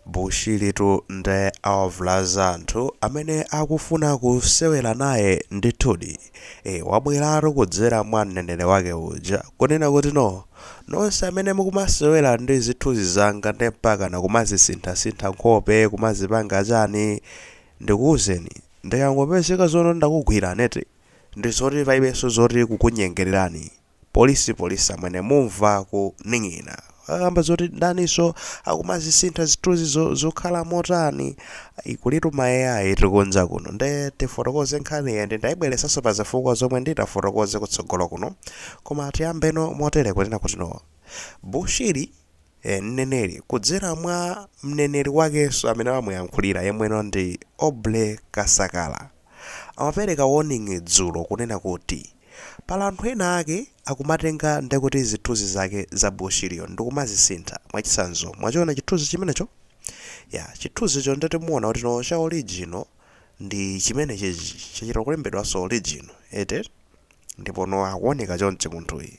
Bushiritu nde awavulaza anthu amene akufuna kusewera naye ndithudi. Eee wabweratu kudzera mwa mneneri wake uja kunena kuti no nonse amene mukumasewera ndi zithunzi zanga nde mpakana kumazisinthasintha nkhope kumazipanga chani ndikuuzeni ndikangopezeka zono ndakugwirani eti ndizoti palibenso zoti kukunyengererani. Police police amwene mumva kuning'ina akamba zoti ndaniso akumazisintha zithunzi zokhala motani ayi kulitu ma AI kunja kuno nde tifotokoze nkhaniyi and ndaibweretsanso pa zifukwa zomwe nditafotokoze kutsogolo kuno koma tiyambeno motere kunena kuti no Bushiri eh mneneri kudzera mwa mneneri wakenso amene amamuyankhulira yemweno ndi Aubrey Kasakala amapereka warning dzulo kunena kuti Pali anthu ena ake akumatenga ndekuti zithunzi zake za Bushiriyo ndikumazisintha mwachitsanzo mwachiona chithunzi chimenecho yeah chithunzicho ndeti muona kuti no cha original ndi chimenechichi chachita kulembedwanso original eti ndipo no akuoneka chonchi munthuyi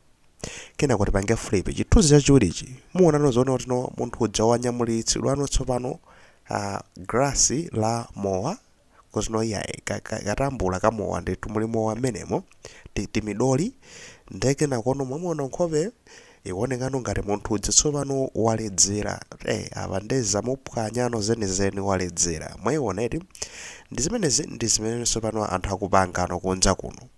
Kenako tipange flip chithunzi chachiwirichi. Muonano zoona kuti no munthu uja wanyamulitsidwano tsopano uh, glass la mowa kuzino iyayi ka- ka- katambula ka mowa ndithu muli mowa mmenemo ti- timidoli nde kenakono mwamuona nkhope ikuonekano ngati munthu uja tsopano waledzera eh apa nde zamuphwanyano zenizeni waledzera mwaiona eti ndi zimenezi ndi zimene tsopano anthu akupangano kunja kuno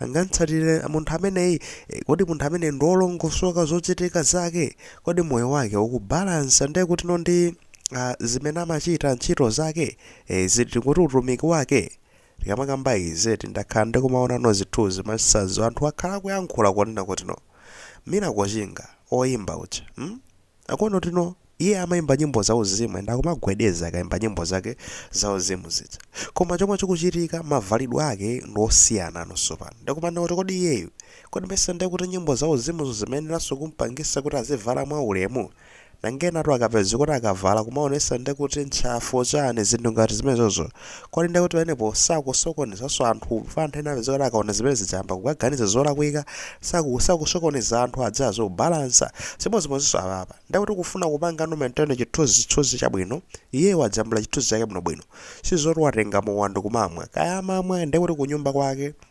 ningamtsatire munthu ameneyi? E, kodi munthu ameneyu ndi wolongosoka zochitika zake? Kodi moyo wake ukubalansa ndiye kutino ndi uh, zimene amachita ntchito zake? E, ziti kuti utumiki wake tikamakamba izi ti ndakhala ndikumaonanso zithunzi masazo anthu akhala akuyankhula kunena kutino Miracle Chinga oyimba uja hmm? Akuona kuti no iye amaimba nyimbo zauzimu and akumagwedeza akaimba nyimbo zake zauzimu zija. Koma chomwe chikuchitika mavalidwe ake ndi osiyanano tsopano. Ndiye kumanena kuti kodi iyeyu, kodi nimesa ndiye kuti nyimbo zauzimuzo zimayeneranso kumpangisa kuti azivala mwaulemu? Nanga enatu akapezeka kuti akavala kumaonesa ndiye kuti ntchafu chani zinthu ngati zimenezozo. Kodi ndiye kuti pamenepo sakusokonezanso anthu? Chifukwa anthu ena amapezeka kuti akaona zimene zija ayamba kukaganiza zolakwika, saku sakusokoneza anthu aziyesa kubalansa. Chimodzimodzinso apapa, ndiye kuti kufuna kupangano maintain chithunzithunzi chabwino, iyeyo wajambula chithunzi chake bwinobwino. Si zoti watenga mowa ndi kumamwa. Kaya amamwa, ndiye kuti kunyumba kwake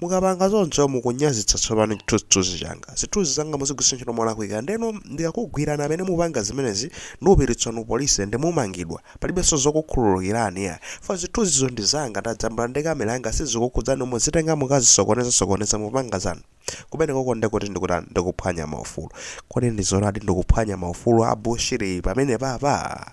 Mukapanga choncho, mukunyazitsa tsopano chithunzithunzi changa. Zithunzi zanga muzigwiritsa ntchito molakwika. Ndeno ndikakugwirani amene mupanga zimenezi ndikupititsanu police and mumangidwa. Palibenso zokukhululukirani iyayi. Chifukwa zithunzizo ndi zanga, ndajambula ndi camera yanga sizikukhudzani muzitenga mukazisokoneze sokoneze mupanga zanu. Kumenekoko nde kuti ndikutani? Ndikuphwanya maufulu. Kodi ndi zoonadi ndikuphwanya maufulu a Bushiri pamenepapa?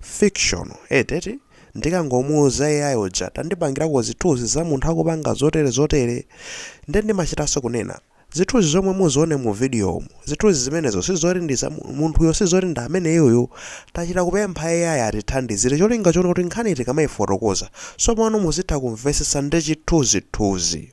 Fiction eti? Ndikangomuuza AI uja tandipangirako zithuzi za munthu akupanga zotere zotere nde ndimachitanso kunena Zithuzi zomwe muzione mu video mu, zithuzi zimenezo sizoti ndi za munthuyo sizoti ndi ameneyuyu tachita kupempha AI atithandizire cholinga choti kuti nkhani tikamaifotokoza sopano muzitha kumvesesa ndi chithunzithunzi.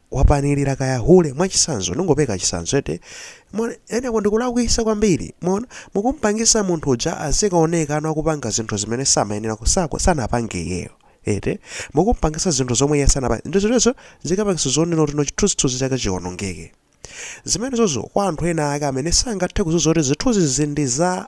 wapanilira kaya hule mwachisanzo ndingopeka chisanzo eti eneko ndikulakwisa kwambiri mwaona mukumpangisa munthu uja azikaoneka no akupanga zinthu zimene samayenera kusakuti sanapange iyeyo eti mukumpangisa zinthu zomwe iye sanapange nde zonsezo zikapangisa zonena kuti no chithunzithunzi chake chionongeke zimenezozo kwa anthu ena ake amene sangathe kudziwa zoti zithunzizi ndi za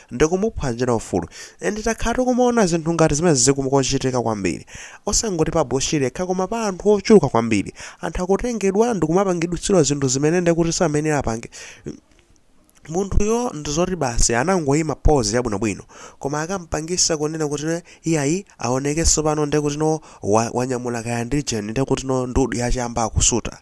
ndikumuphwanyira ufulu and takhala tikumaona zinthu ngati zimenezi zikumachitika kwambiri osangoti pa Bushiri yekha koma pa anthu ochuluka kwambiri anthu akutengedwa ndikumapangitsidwa zinthu zimene ndekuti samenera apange munthuyo ndizoti basi anangoyima pose yabwinobwino koma akampangisa kunena kuti no iyayi aoneke sopano ndekuti no wa, wanyamula kaya ndi jeni ndekuti no ndudu ya chamba akusuta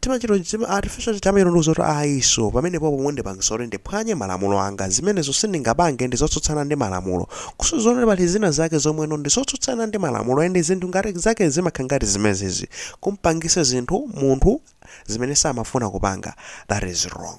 Timachito tima artificial tamitu ndi zoti ayi so pamenepopo mundipangisa kuti ndiphwanye malamulo anga zimenezo sindingapange ndizotsutsana ndi malamulo kuso zoona kuti pali zina zake zomweno ndizotsutsana ndi malamulo and zinthu ngati zake zimakhala ngati zimenezi kumpangisa zinthu munthu zimene samafuna kupanga that is wrong.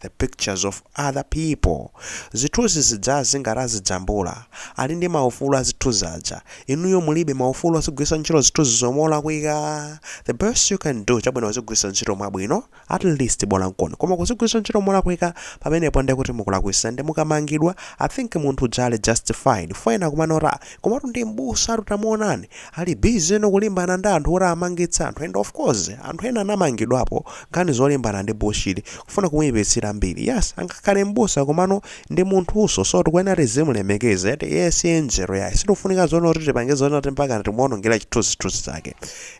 the pictures of other people zithuzi zijazi ngati azijambula ali ndi maufulu a zithuzi aja inuyo mulibe maufulu ozigwiritsa ntchito zithuzizo molakwika the best you can do chabwino kuzigwiritsa ntchito mwabwino at least bola nkoni koma kuzigwiritsa ntchito molakwika pamenepo ndekuti mukulakwitsa ndi mukamangidwa I think munthu uja ali justified foyena kumanota Komatu ndi m'busatu tamuonani ali busy no kulimbana ndi anthu kuti amangitse anthu and of course anthu ena anamangidwapo nkhani zolimbana ndi Bushiri kufuna kumuipitsira mbiri yes angakhale m'busa komano ndi munthunso so tikuyenera tizimulemekeza eti iye si angel yayi sitikufunika zonena kuti tipange zonena kuti mpakana timuonongera chithunzithunzi chake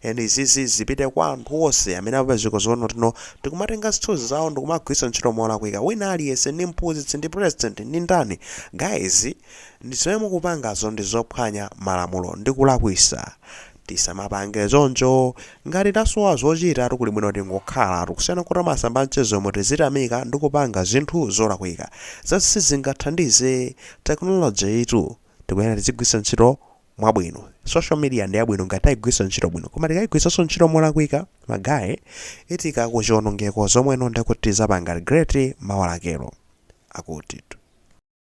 and izizi zipite kwa anthu onse amene apezeka zonena kuti no tikumatenga zithunzi zawo ndikumagwiritsa ntchito molakwika wina aliyense ndi mphunzitsi ndi president ndi ndani guys Ndi zomwe mukupangazo ndi zophwanya malamulo ndi kulakwisa. Tisamapange choncho. Ngati tasowa zochitatu kuli bwino tingokhalatu kusiyana kuti m'masamba a mchezomu tizitamika ndi kupanga zinthu zolakwika. Zosizingathandize. Technology yitu tikuyenera tizigwiritsa ntchito mwabwino. Social media ndi yabwino ngati tayigwiritsa ntchito bwino koma tikayigwiritsanso ntchito molakwika magaye itika ku chionongeko zomweno ndekuti tizapanga regret mawa lakelo. Akuti tu.